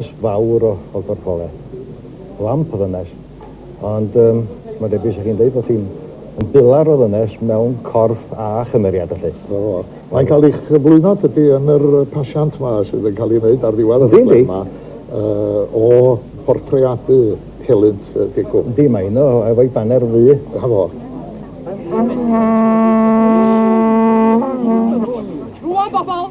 Ffys fawr o o gorffole. Lamp o ddynes. Ond yym mae'n debyg sa chi'n deud bod hi'n yn bilar o ddynes mewn corff a chymeriad felly. O, mae'n cael ei chyflwyno tydi yn yr pasiant 'ma sydd yn cael ei wneud ar ddiwedd y rhaglen 'ma yy o bortreadu helynt yy degwm. Yndi mae un o efo'i baner ddu. 'Na fo. Rŵan bobol!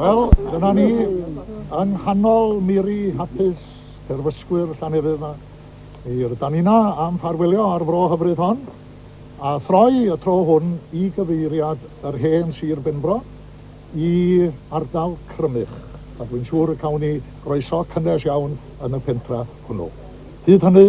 Wel, dyna ni, yng nghanol miri hapus terfysgwyr Llanefydd yma. Mi rydan ni yna am ffarwelio ar fro hyfryd hon, a throi y tro hwn i gyfeiriad yr hen Sir Benfro i ardal Crymych, a dwi'n siŵr y cawn ni groeso cynnes iawn yn y pentra hwnnw. Hyd hynny,